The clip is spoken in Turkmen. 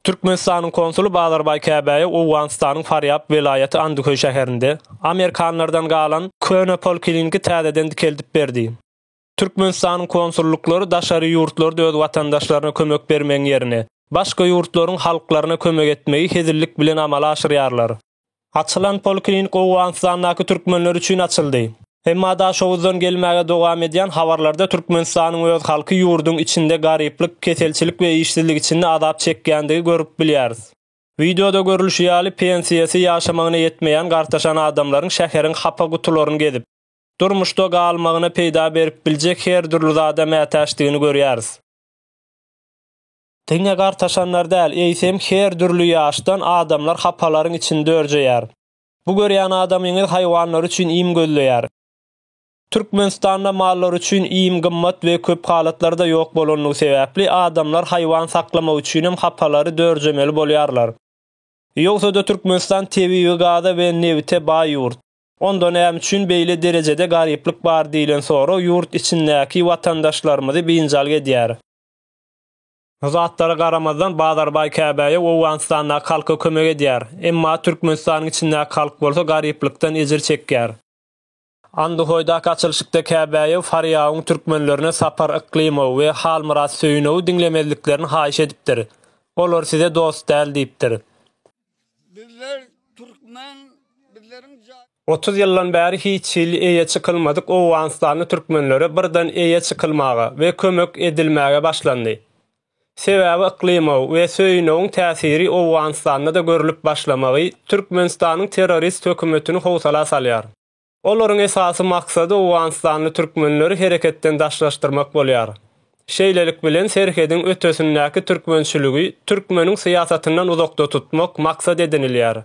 Türkmenistanyň konsuly Bazarbaý Käbäýe Owganystanyň Farýab welaýaty Andyköý şäherinde amerikanlardan galan köne polkliniki täzeden dikeldip berdi. Türkmenistanyň konsullyklary daşary ýurtlarda öz watandaşlaryna kömek bermegiň ýerine, başga ýurtlaryň halklaryna kömek etmegi hezillik bilen amala aşyrýarlar. Açylan poliklinik Owganystandaky türkmenler üçin açyldy. Emma Daşoguzdan gelmäge dowam edýän habarlarda Türkmenistanyň öz halky ýurduň içinde garyplyk, keselçilik we işsizlik içinde azap çekýändigi görüp bilýäris. Wideoda görülişi ýaly pensiýasy ýaşamagyna ýetmeýän gartaşan adamlaryň şäheriň hapa gutularyny gezip, durmuşda galmagyna peýda berip biljek her dürli zada mätäçdigini görýäris. Diňe gartaşanlar däl, eýsem her dürli ýaşdan adamlar hapalaryň içinde örjeýär. Bu görýän adamyňyz haýwanlar üçin iým gözleýär. Türkmenistanda mallar üçin iým gymmat we köp halatlarda ýok bolanlygy sebäpli adamlar haýwan saklamak üçinem hapalary dörjemeli bolýarlar. Ýogsa-da Türkmenistan tebigy gaza we nebite baý ýurt. Onda näme üçin beýle derejede garyplyk bar diýlen sorag ýurt içindäki watandaşlarymyzy biynjal edýär. Bu zatlara garamazdan Bazarbaý Käbäýe Owganystandaky halka kömek edýär. Emma Türkmenistanyň içindäki halk bolsa garyplykdan ejir çekýär. Anduhoýdaky açylyşykda Käbäýew Farýabyň türkmenlerine Sapar Yklymow we Halmyrat Söýünowy diňlemezliklerini haýyş edipdir. Olar size dost däl diýipdir. Bizler türkmen, bizleriň jaý. Otuz ýyldan bäri hiç hili eýe çykylmadyk owganystanly türkmenlere birden eýe çykylmaga we kömek edilmäge başlandy. Sebäbi yklymow we söýünowyň täsiri Owganystanda-da görlüp başlamagy Türkmenistanyň terrorist hökümetini howsala salýar. Olaryň esasy maksady owganystanly türkmenleri hereketden daşlaşdyrmak bolýar. Şeýlelik bilen serhediň ötesindäki türkmençiligi türkmeniň syýasatyndan uzakda tutmak maksat edinilýär.